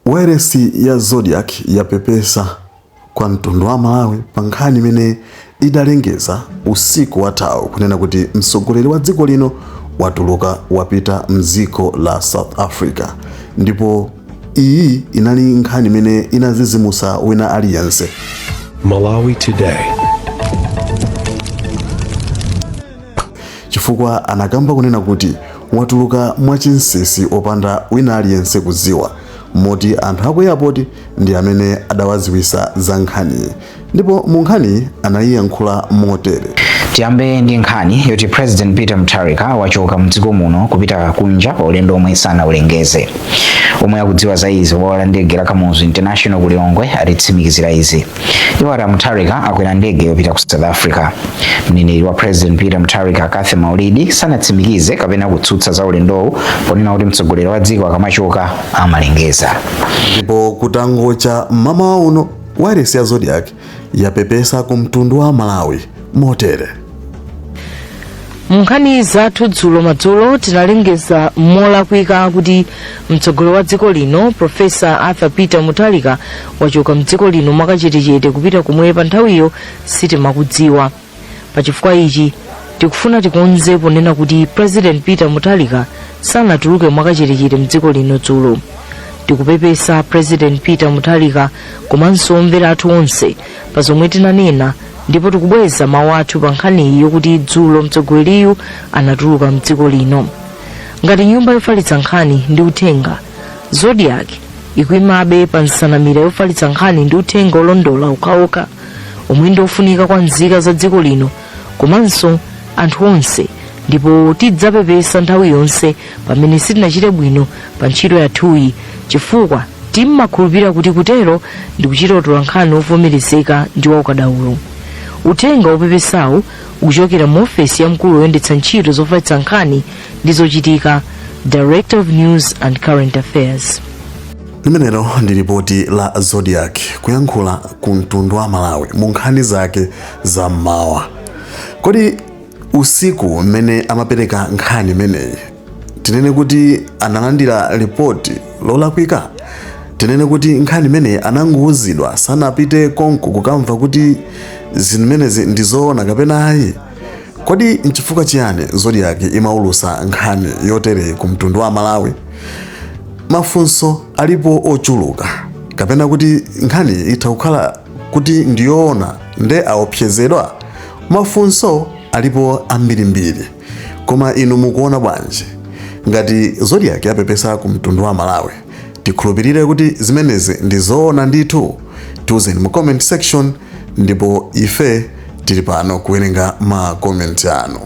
Wailesi ya Zodiak yapepesa kwa mtundu wa Malawi pa nkhani imene idalengeza usiku wathawu kunena kuti mtsogoleri wa dziko lino watuluka wapita mdziko la South Africa ndipo iyi inali nkhani imene inazizimusa wina aliyense Malawi Today. chifukwa anakamba kunena kuti watuluka mwachinsisi opanda wina aliyense kuziwa moti anthu aku airport ndi amene adawaziwisa za nkhaniyi ndipo mu nkhaniyi anayiyankhula motere tiyambe ndi nkhani yoti president peter mutharika wachoka mdziko muno kupita kunja pa ulendo omwe sanawulengeze omwe akudziwa za izi pa bwalo la ndege la kamuzu international ku lilongwe atitsimikizira izi iwo ati amutharika akwera ndege yopita ku south africa mneneri wa president peter mutharika cathy maulidi sanatsimikize kapena kutsutsa za ulendowu ponena kuti mtsogoleri wa dziko akamachoka amalengeza ndipo kutangocha mmamawa uno wailesi ya zodiak yapepesa ku mtundu wa malawi motere munkhani zathu dzulo madzulo tinalengeza molakwika kuti mtsogoleri wa dziko lino profesa arthur peter mutharika wachoka mdziko lino mwakachetechete kupita komwe pa nthawiyo sitimakudziwa pachifukwa ichi tikufuna tikonze ponena kuti president peter mutharika sanatuluke mwakachetechete mdziko lino dzulo tikupepesa president peter mutharika komanso omvera athu onse pa zomwe tinanena ndipo tikubweza mawu athu pa nkhaniyi yokuti dzulo mtsogoleriyu anatuluka mdziko lino ngati nyumba yofalitsa nkhani ndi uthenga zodiak ikuimabe pa nsanamira yofalitsa nkhani ndi uthenga olondola okhaokha omwe ndi ofunika kwa nzika za dziko lino komanso anthu onse ndipo tidzapepesa nthawi yonse pamene sitinachite bwino pa ntchito yathuyi chifukwa timakhulupirira kuti kutero ndi kuchita utolankhani wovomerezeka ndi waukadaulo uthenga wopepesawu ukuchokera mu ofesi ya mkulu woyendetsa ntchito zofalitsa nkhani ndi zochitika director of news and current affairs limenelo ndi lipoti la zodiak kuyankhula ku mtundu wa malawi mu nkhani zake za mmawa kodi usiku mmene amapereka nkhani imeneyi tinene kuti analandira ripoti lolakwika tinene kuti nkhani imeneyi anangouzidwa sanapite konko kukamva kuti zimenezi ndi zoona kapena ayi kodi nchifukwa chiyani zodiaki imaulusa nkhani yotereyi ku mtundu wa malawi mafunso alipo ochuluka kapena kuti nkhani itha kukhala kuti ndiyoona nde aopsezedwa Mafunso alipo ambirimbiri, koma inu mukuona bwanji? Ngati Zodiak yapepesa ku mtundu wa Malawi, tikhulupirire kuti zimenezi ndi zoona ndithu? Tiuzeni mu comment section ndipo ife tili pano kuwerenga ma comment anu.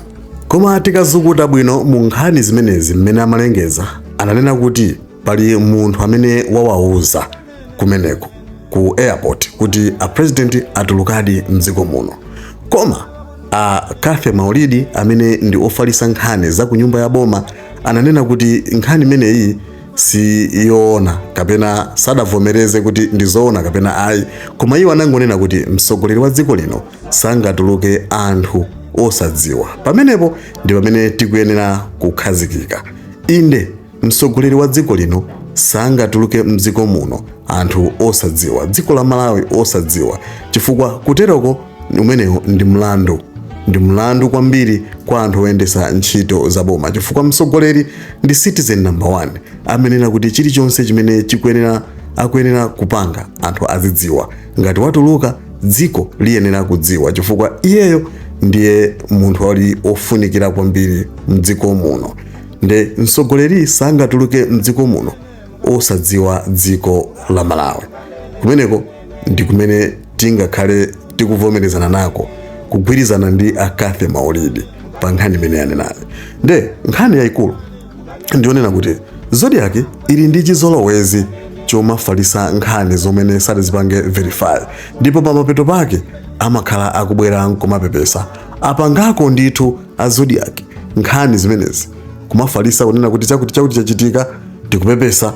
Koma tikazukuta bwino mu nkhani zimenezi mmene amalengeza, ananena kuti pali munthu amene wawauza kumeneko ku airport kuti a president atulukadi mdziko muno koma a Cathy Maulidi amene ndi ofalisa nkhani za ku nyumba ya boma ananena kuti nkhani imeneyi si yoona kapena sadavomereze kuti ndi zoona kapena ayi koma iwo anangonena kuti mtsogoleri wa dziko lino sangatuluke anthu osadziwa pamenepo ndi pamene tikuyenera kukhazikika inde Mtsogoleri wa dziko lino sangatuluke mdziko muno anthu osadziwa, dziko la Malawi osadziwa, chifukwa kuteroko umenewo ndi mlandu kwambiri kwa anthu oyendesa ntchito za boma, chifukwa mtsogoleri ndi citizen number one amene kuti chilichonse chimene akuyenera kupanga anthu azidziwa. Ngati watuluka dziko liyenera kudziwa, chifukwa iyeyo ndiye munthu ali ofunikira kwambiri mdziko muno. nde mtsogoleri sangatuluke mdziko muno osadziwa dziko la malawi kumeneko ndi kumene tingakhale tikuvomerezana nako kugwirizana ndi a Cathy Maulidi pa nkhani imene anenayi nde nkhani yayikulu ndionena kuti Zodiak ili ndi chizolowezi chomafalisa nkhani zomene sadazipange verify ndipo pamapeto pake amakhala akubwera nkumapepesa apangako ndithu a Zodiak nkhani zimenezi kumafalisa kunena kuti chakuti chachitika tikupepesa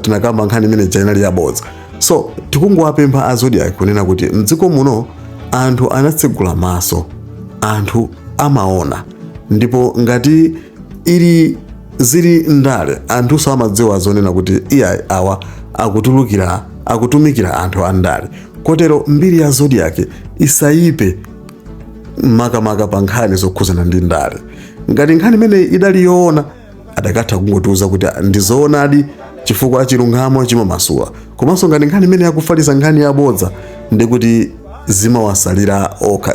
tinakamba nkhani imene ija inali yabodza so tikungowapempha a Zodiak kunena kuti mdziko muno anthu anatsegula maso anthu amaona ndipo ngati ili zili ndale anthuso amadziwa zonena kuti iyayi awa akutumikira anthu a ndale kotero mbiri ya Zodiak isayipe makamaka pa nkhani zokhuzana ndi ndale ngati nkhani imene idali yoona adakatha kungotiuza kuti ndizoonadi chifukwa chilungamo chimamasula komanso ngati nkhani imene akufalisa nkhani yabodza ndikuti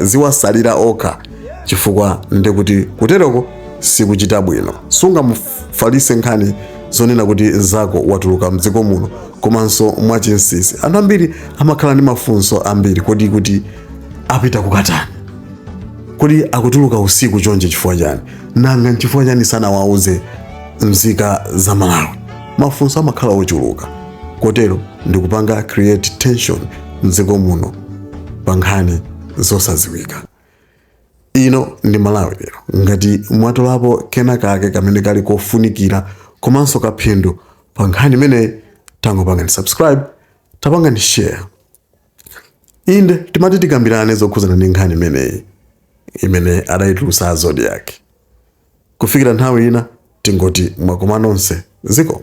ziwasalira okha chifukwa ndikuti kuteroko sikuchita bwino sungamufalise nkhani zonena kuti nzako watuluka mdziko muno komanso mwachinsisi anthu ambiri amakhala ndi mafunso ambiri kodi kuti apita kukatani kodi akutuluka usiku chonchi chifukwa chani nanga nchifukwa chani sanawauze mzika za malawi mafunso amakhala ochuluka kotero ndikupanga create tension mdziko muno pa nkhani zosaziwika ino ndi malawi lero ngati mwatolapo kena kake kamene kali kofunikira komanso kaphindu pa nkhani imeneyi tangopangani subscribe tapangani share inde timati tikambirane zokhudzana ndi nkhani imeneyi imene adayitulusa a zodiak kufikira nthawi ina tingoti mwakoma nonse ziko